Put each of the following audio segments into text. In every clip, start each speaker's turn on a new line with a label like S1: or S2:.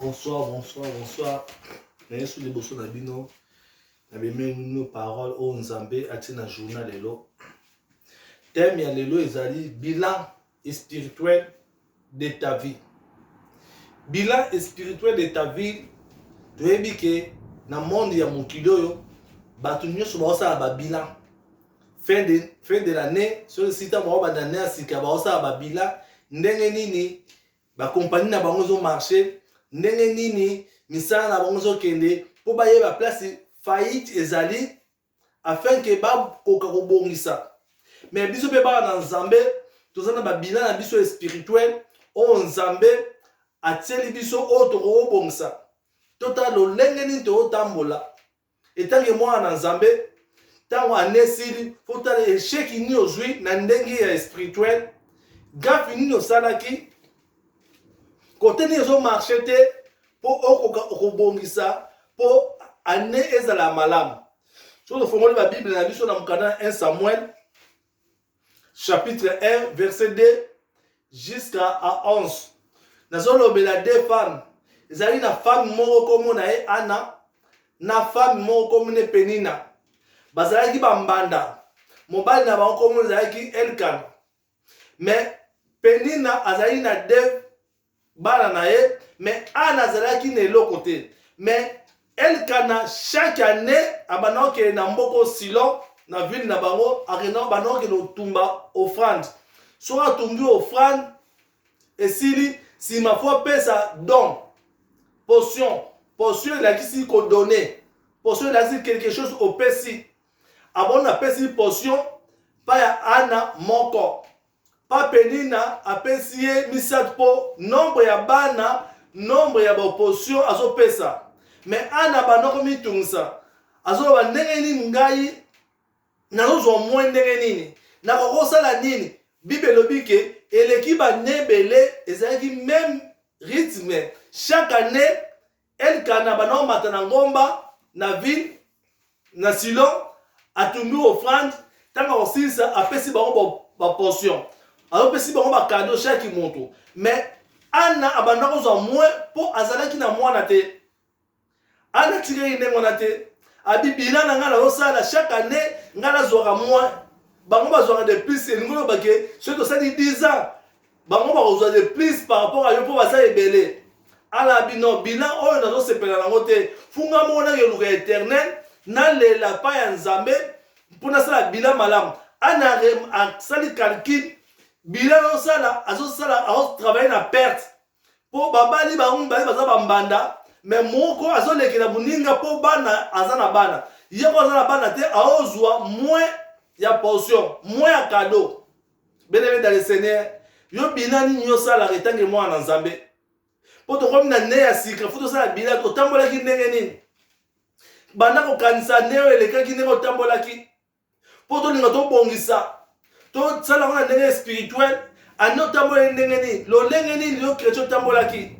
S1: Bonsoir, bonsoir, bonsoir. Na yesu liboso na bino na bimemino parole oyo nzambe atie na journal lelo teme ya lelo ezali bilan spirituel de ta vie bilan spirituel de ta vie toyebi ke na monde ya mokili oyo bato nyonso baosala babilan fin de, fin de l'année soki sita bango banda ne ya sika baosala babila ndenge nini bakompani na bango ezomarche ndenge nini misala na bango ezokende mpo bayeba place faillite ezali afin ke bakoka kobongisa me biso mpe bana na nzambe toza na babila na biso ya spirituel oyo nzambe atieli biso oyo tokokobongisa totala lolenge nini tokotambola etangi mwana na nzambe ntango ane esili mpo tala echec nini ozwi na ndenge ya espirituel gafi nini osalaki kote nini ezomarche te mpo okoka okobongisa mpo ane ezala malamu soki tofongoli babible na biso na mokanda 1 samuel chapitre 1 verset 2 jusqu'à 11 nazolobela deux femmes ezali na femme moko nkombo na ye ana na femme moko nkombo ne penina bazalaki bambanda mobali na bango nkombo ezalaki elkana mais penina azali na deux bana na ye mais ana azalaki na eloko te mais elkana chaque année abandaki okende na mboko silon na ville na bango akenda bandaki okende otumba offrande soki atumbi offrande esili nsima fo apesa don potion potion elakisi kodone potion elakisi quelque chose opesi abona apesi potion mpa ya ana moko Pa penina apesi ye misatu po nombre ya bana nombre ya ba opposition azopesa mais Anna abanda komitungisa azoloba ndenge nini ngai nazozwa mwe ndenge nini nakokosala nini bible elobi ke eleki bane ebele ezalaki meme rythme chaque année Elkana abanda komata na ngomba na ville na Silo, atumbi ofrande. Ntango akosilisa, apesi bango baportion, azopesi bango bakado shaki moto. Mais Anna abanda kozwa mwe mpo azalaki na mwana te. Anna atikaki ndenge wana te, abi bilan na ngai nazosala chaque année, ngai nazwaka mwe bango bazwaka de plus elingi oloba ke soki tosali 10 ans bango bakozwa de plus par rapport ayo mpo baza ebele ala bino bilan oyo nazosepela nango te funga moko nakeluka éternel nalela pa ya nzambe mpo nasala bilan malamu ana asali calcul bilan azosala azosala azotravaille na perte mpo babali bango mibale baza bambanda me moko azolekela moninga mpo bana aza na bana ye ko aza na bana te aozwa moins ya portion moins ya cadeau Bien-aimé dans le Seigneur, yo bilan nini osalaka etangi mwana na Nzambe? Mpo tokomi na ne ya sika, fo tosala bilan, otambolaki ndenge nini? Banda kokanisa nde oyo elekaki ndenge otambolaki, mpo tolinga tobongisa, tosala yango na ndenge spirituel, ande otambolaki ndenge nini? Lolenge nini yo kretien otambolaki?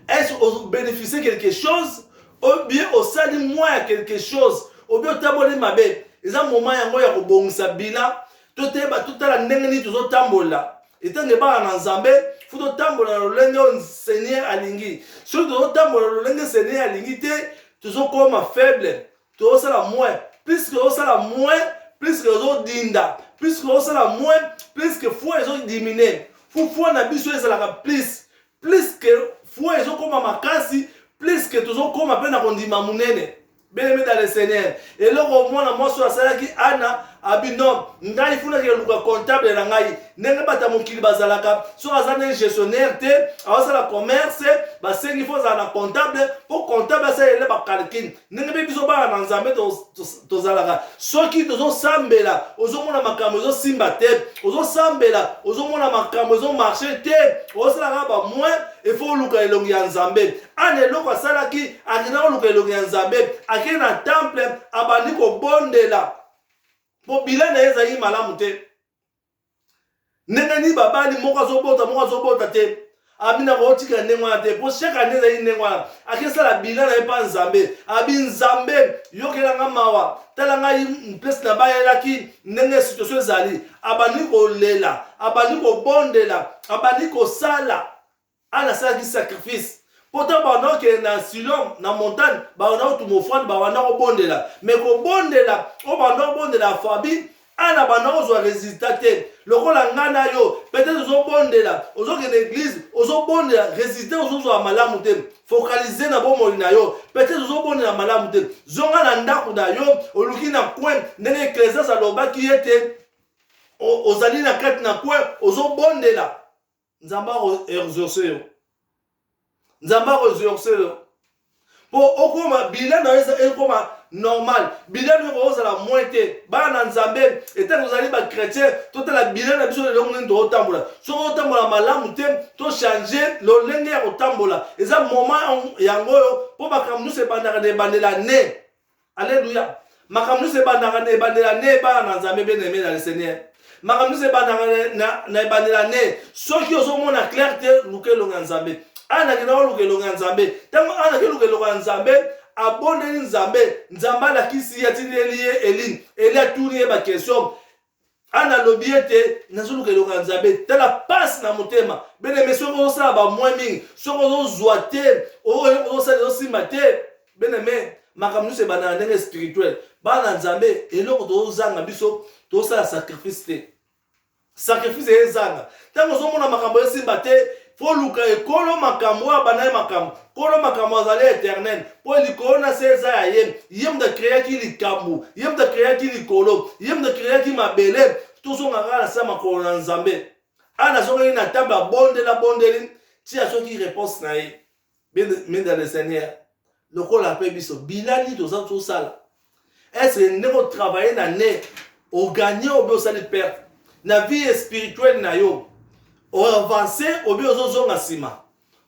S1: Est-ce obénéficie quelque chose? Ou bien osali mwa ya quelque chose? Ou bien otamboli mabe? Eza moment yango ya kobongisa bilan toteba totala ndenge nini tozotambola etango ebala na nzambe fo totambola na lolenge oyo seigneur alingi soki tozotambola lolenge seigneur alingi te tozokoma faible tozosala moins puiske tozosala moins puiske ozodinda puiske ozosala moins puiske foi ezodimine fo foi na biso ezalaka plus puiske foi ezokoma makasi puiske tozokoma mpe na kondima monene beleme dans le seigneur eloko mwana mwasi oyo asalaki ana abi non ngai funaki eluka comptable na ngai ndenge bata mokili bazalaka soki aza nde gestionnaire te aosala commerce basengi fo ozala na comptable mpo comptable asalele bacalcule ndenge mpe biso bana na nzambe tozalaka soki tozosambela ozomona makambo ezosimba te ozosambela ozomona makambo ezomarche te osalaka bamoin efo oluka elongi ya nzambe ana eloko asalaki akenda koluka elongi ya nzambe akei na temple abandi kobondela mpo bila na ye ezalaki malamu te ndenge nini babali moko azobota moko azobota te abi na kotika ndenge wana te mpo chaque année ezali ndenge wana akesala bila na ye mpa nzambe abi nzambe yokela nga mawa tala ngai place na bayelaki ndenge situation ezali abandi kolela abandi kobondela abandi kosala Anne asalaki sacrifice pourtant banda okende na silom na montagne banda otuma ofrande babanda kobondela me kobondela oyo banda obondela ya fabi ana banda kozwa resultat te lokola ngai na yo peut-être ozobondela ozokende eglise ozobondela resultat ozozwa malamu te focalize na bomoi na yo peut-être ozobondela malamu te zonga na ndako na yo oluki na coin ndenge ecclesias alobaki ete ozali na kati na coin ozobondela nzambe akoexauce yo nzambe akoexauce yo mpo okoma bila na yo ekoma normal bila na yo kokozala moins te bana na nzambe etali ozali bachrétien totala bila na biso lelo ndenge tootambola soki otambola malamu te tochange lolenge ya kotambola eza moment yango oyo mpo makambo nyonso ebandaka na ebandela ne Alléluia. makambo nyonso ebandaka na ebandela ne ebana na nzambe bene eme na le seigneur makambo nyonso ebandaka na ebandela ne soki ozomona claire te luka elongo ya nzambe ana akenda koluka elongo ya nzambe ntango ana akeluka elongo ya nzambe abondeli nzambe nzambe alakisi ye atindeli ye eli eli atuni ye bakestion ana alobi ete nazoluka eloko ya nzambe tala pasi na motema beneme soki ozosala bamwe mingi soki ozozwa te ozosala ezosimba te beneme makambo nyonso ebanda na ndenge spirituel bana na nzambe eloko tozozanga biso tozosala sacrifice te sacrifice ezanga ntango ozomona makambo esimba te fo luka ye kolo makambo oyo abanda ye makambo kolo makambo azali eternel mpo likolo na se eza ya ye ye moto akreaki likambo ye moto akreaki likolo ye moto akreaki mabele tozonga kaka na se ya makolo na nzambe ana azongaki na table abondeli abondeli ti azwaki reponse na ye mais dans le seigneur lokola ape biso bila nini toza tosala estce ndenge otravaille na ne ogagne obe osali perte na vie spirituelle na yo oavance obe ozozonga nsima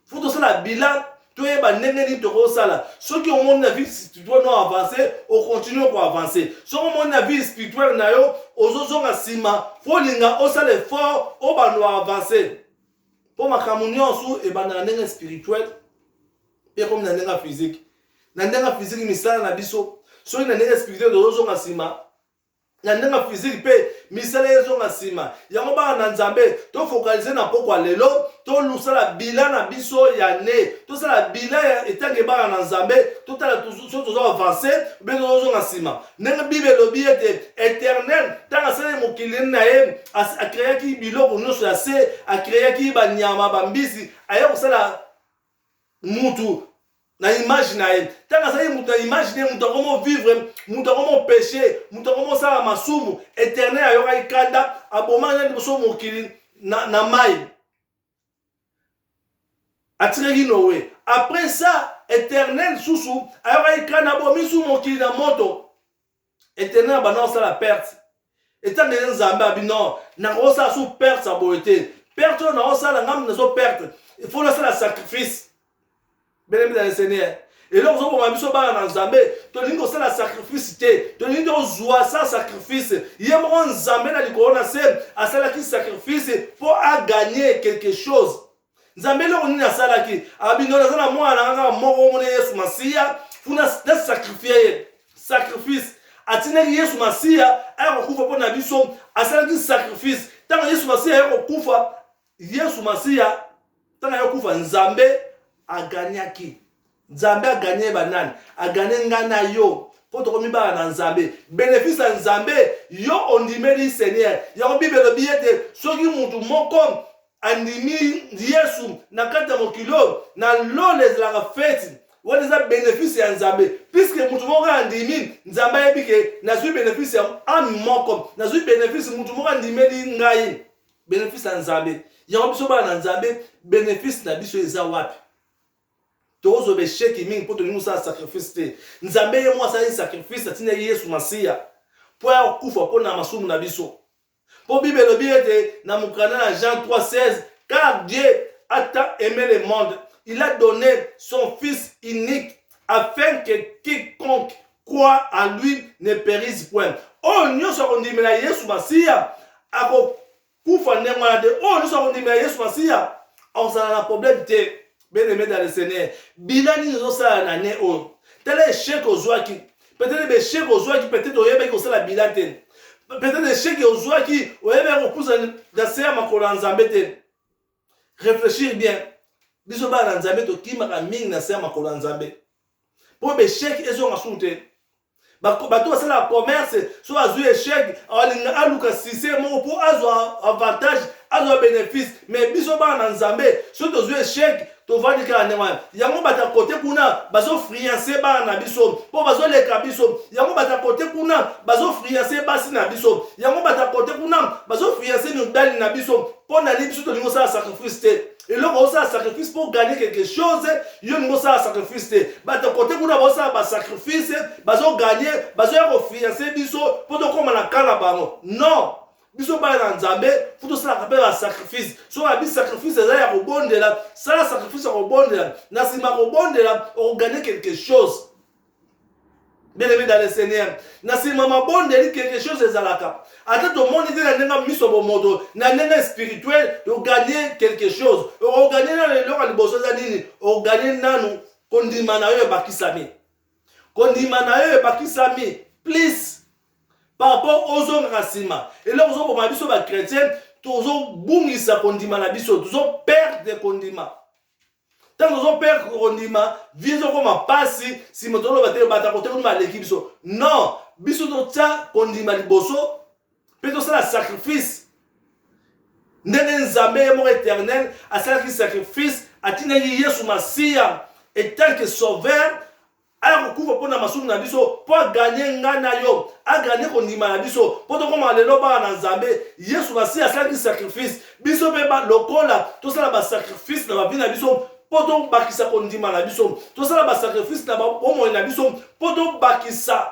S1: fo tosala bilan toyeba ndenge nini tokosala soki omoni na vie spirituelle no avance okontinue koavance soki omoni na vie spirituelle na yo ozozonga nsima fo olinga osala effort obanda oavance mpo makambo nyonso ebanda na ndenge spirituel mpe ekomi na ndenge ya fiziki na ndenge ya fiziki misala na biso soki na ndenge spirituel tozozonga nsima na ndenge ya fiziki mpe misala ezonga nsima yango bana na nzambe tofokalize na mpokwa lelo tolusala bila na biso ya ne tosala bila ya etange bana na nzambe totala soki tozo avanse mpe tozozonga nsima ndenge bible elobi ete eternel ntango asalaki mokili na ye akreaki biloko nyonso ya se akreaki banyama bambisi aya kosala mutu na image na ye ntango azali moto na image na ye moto yango movivre moto yango mopeche moto yango mosala masumu eternel ayokaki kanda abomaki na liboso mokili na, na mai atikaki noe après ça eternel susu ayokaki kra na bomisu mokili na moto eternel abanda kosala perte etanga eye nzambe abi non nakosala su perte ya boye te perte oyo nakosala ngambi nazo perte il faut nasala sacrifice belemi na le seigneur eloko ozoboma biso bana na nzambe tolingi kosala sacrifice te tolingi tozwa sa sacrifice ye moko nzambe na likolo na se asalaki sacrifice mpo aganye quelque chose nzambe eloko nini asalaki abino naza na mwana na kaka moko omona yesu masiya kuna nasacrifie ye sacrifice atindaki yesu masiya aya kokufa mpo na biso asalaki sacrifice ntango yesu masiya aya kokufa yesu masiya ntango ya kufa nzambe aganyaki nzambe aganye banani aganye ngai na yo mpo tokomi bana na nzambe benefisi ya nzambe yo ondimeli seigneur yango bible elobi ete soki motu moko andimi yesu na kati ya mokili oyo na lola ezalaka feti wana eza benefisi ya nzambe puiske motu moko andimi nzambe ayebi ke nazwi benefisi ya ame moko nazwi benefisi motu moko andimeli ngai bénéfice ya nzambe yango biso bana na nzambe bénéfice na biso eza wapi tokozwa besheki mingi mpo tolingi kosala sacrifice te nzambe ye moko asalaki sacrifice atindaki yesu masiya mpo ya kokufa mpo na masumu na biso mpo bible elobi ete na mokanda na jean 3 16 car dieu a tant aimé le monde il a donné son fils unique afin que quiconque croit à lui ne perise point oyo nyonso akondimela yesu masiya akokufa ndenge wana te oyo nyonso akondimela yesu masiya akozala na problème te bien aimé dans le seigneur bilan nini ozosala na ne oyo tala echec ozwaki peut-être bechec ozwaki peut-être oyebaki kosala bilan te peut-être echec ozwaki oyebaki kopusa na se ya makolo ya nzambe te réfléchir bien biso bana na nzambe tokimaka mingi na se ya makolo ya nzambe mpo besheki ezonga susu te bato basalaka commerce so azwi echec alinga aluka sise moko mpo azwa avantage azwa bénéfice mais biso bana na nzambe soki tozwi echec tovandi kaka ndenge wana yango bato ya kote kuna bazofrianse bana na biso mpo bazoleka biso yango bato ya kote kuna bazofrianse basi na biso yango bato ya kote kuna bazofrianse mibali na biso mpo na nini biso tolingi osala sacrifice te eloko osala sacrifice mpo gagne quelque chose yo olingi osala sacrifice te bato kote kuna baosala basacrifice bazogagne bazoya kofianse biso mpo tokóma na ka na bango non biso bana na nzambe fo tosalaka mpe basacrifice soki abi sacrifice eza ya kobondela sala sacrifice ya kobondela na nsima kobondela okogagne quelque chose bien aimé dans le seigneur na nsima mabondeli quelque chose ezalaka ata tomoni te na ndenge miso ya bomoto na ndenge spirituel toganye quelque chose okoganye nano eloko ya liboso eza nini okoganye nanu kondima na yo ebakisami kondima na yo ebakisami please par rapport ozongaka nsima eloko ozoboma biso bachrétien tozobungisa kondima na biso tozoperdre kondima ntango tozoperdre kondima vie ezokoma mpasi nsima toloba te bato ya kotekonima aleki biso non biso totya kondima liboso mpe tosala sacrifice ndenge nzambe ye moko éternel asalaki sacrifice atindaki yesu masiya etanke sauveur aya kokufa mpo na masumu na biso mpo aganye ngai na yo aganye kondima na biso mpo tokoma lelo bana na nzambe yesu masiya asalaki sacrifice biso mpe lokola tosala basacrifice na bavi na biso mpo tobakisa kondima na biso tosala basacrifice na bomoi na biso mpo tobakisa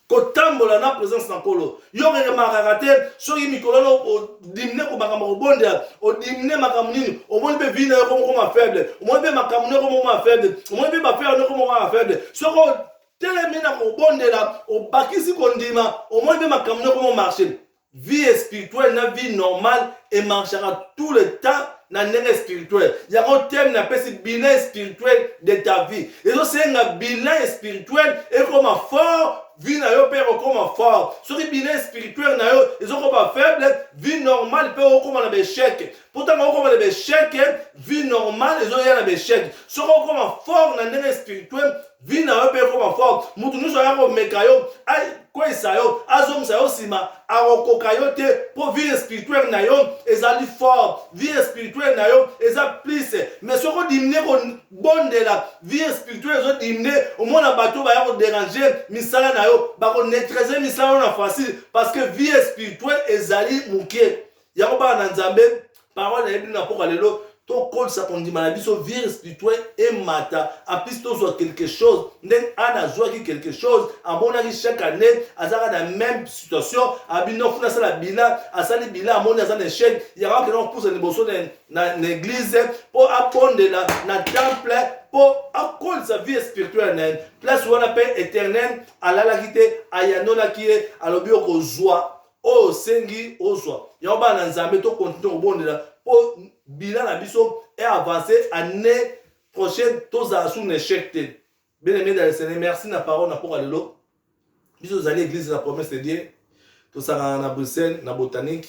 S1: kotambola na présence na nkolo yo keke makaka te soki mikolo no odimine komakambo kobondela odimine makambo nini omoni mpe vi na yo komokoma faible omoni mpe makambo noko mokoma faible omoni mpe bafere noko mokoma faible soki otelemi na kobondela obakisi kondima omoni mpe makambo noko momarche vie spirituelle na vie normale emarchaka tout le temps na ndenge spirituel yango teme napesi bilan spirituel de ta vie ezosenga bilan spirituel ekoma fort vie na yo mpe ekokoma fort soki bilan spirituel na yo ezokoma faible vie normale mpe okokoma na baechec pourtant okoma na baechec vie normale ezoya na baechec soki okoma fort na ndenge spirituel vie na yo mpe ekoma fort moto nyonso aya komeka yo akweyisa yo azongisa yo nsima akokoka yo te mpo vie spirituel na yo ezali fort vie spirituel na yo eza plus mais soki odimine kobondela vie spirituel ezodimine omona bato baya koderange misala na yo bakoneutralize misala yo na facile parce que vie spirituel ezali moke yango bana na nzambe parole na ye bino na mpoka lelo tokolisa kondima na biso vire spirituel emata aplis tozwa quelque chose ndenge ana azwaki quelque chose amonaki chaque année azalaka na même situation abino kuna asala bila asali bila amoni aza na échec yango akenda kopusa liboso na église mpo abondela na temple mpo akolisa vie spirituelle na ye place wana mpe éternel alalaki te ayanolaki ye alobi okozwa oyo osengi ozwa yango bana na nzambe to continue kobondela mpo bila na biso e avance année prochaine tozala sur na échec te bien aimé dans le seigneur merci na parole na mpoka lelo biso tozali église de la promesse de dieu tosangana na bruxelles na botanique